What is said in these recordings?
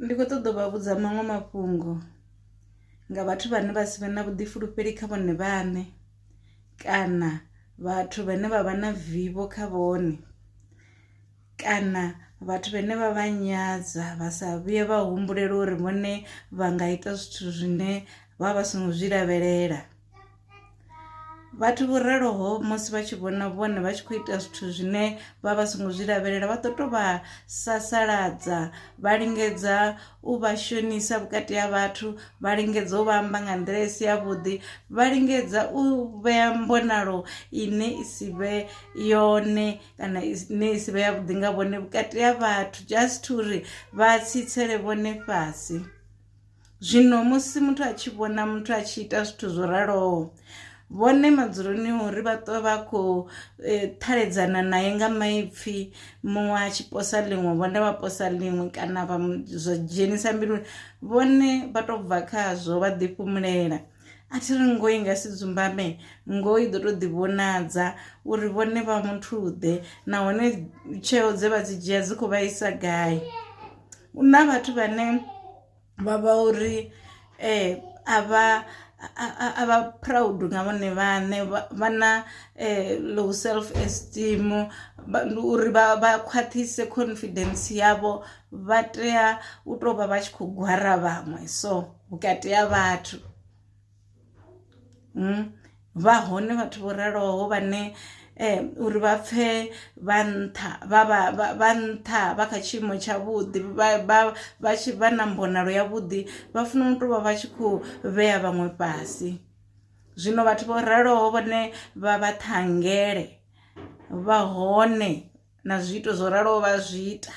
Ndi kho ṱoḓa u vha vhudza maṅwe mafhungo nga vhathu vhane vha si vhe na vhuḓifulufheli kha vhone vhaṋe kana vhathu vhane vha vha na vivho kha vhone kana vhathu vhane vha vha nyadza vha sa vhuye vha humbulela uri vhone vha nga ita zwithu zwine vha vha songo zwi lavhelela. vhathu vho raloho musi vha tshi vhona vhone vha tshi khou ita zwithu zwine vha vha songo zwi lavhelela vha ḓo to vha sasaladza vha lingedza u vha shonisa vhukati ha vhathu vha lingedza u vha amba nga nḓila i si ya vhuḓi vha lingedza u vhea mbonalo ine i si vhe yone kana ine i si vhe ya vhuḓi nga vhone vhukati ha vhathu just uri vha tsitsele vhone fhasi. Zwino musi muthu a tshi vhona muthu a tshi ita zwithu zwo raloho, vhone madzuloni uri vha ṱwa vha khou eh, ṱhaledzana naye nga maipfi muṅwe a tshi posa ḽiṅwe vhone vha posa ḽiṅwe kana vha mu- zwa dzhenisa mbiluni vhone vha tou bva khazwo vha ḓifhumulela a thi ri ngoho i nga si dzumbame ngoho i ḓo tou ḓivhonadza uri vhone vha muthuḓe nahone tsheo dze vha dzi dzhia dzi khou vhaisa gai hu na vhathu vhane vha vha uri um a vha a vha proud nga vhone vhaṋe vha na um low self esteem ndi uri vha vha khwaṱhise confidence yavho vha tea u tou vha vha tshi khou gwara vhaṅwe so. vhukati ha vhathu mm. vha hone vhathu vho raloho vhane eh, uri vha pfe vha nṱha vha nṱha vha kha tshiimo tshavhuḓi vha tshi vha na mbonalo yavhuḓi vha funa u tou vha vha tshi khou vhea vhaṅwe fhasi zwino vhathu vho raloho vhane vha vha ṱhangele vha hone na zwiito zwo raloho vha zwi ita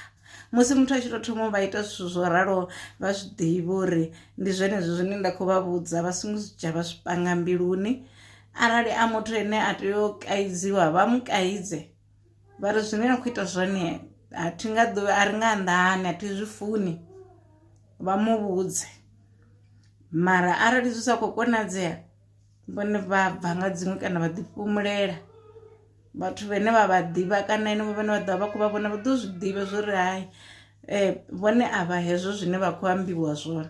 musi muthu a tshi tou thoma vha ita zwithu zwo raloho vha zwi ḓivha uri ndi zwenezwo zwine nda khou vha vhudza vha songo zwi dzhia vha zwi panga mbiluni arali a muthu ane a tea u kaidziwa vha mu kaidze vha ri zwine na khou ita zwone a thi nga ḓuvha a ri nga anḓani a thi zwi funi vha mu vhudze mara arali zwi sa khou konadzea vhone vha bva nga dziṅwe kana vha ḓi fhumulela vhathu vhane vha vha ḓivha kana henevho vhane vha ḓovha vha khou vha vhona vha ḓo zwi ḓivha zwo ri hai vhone a vha hezwo zwine vha khou ambiwa zwone .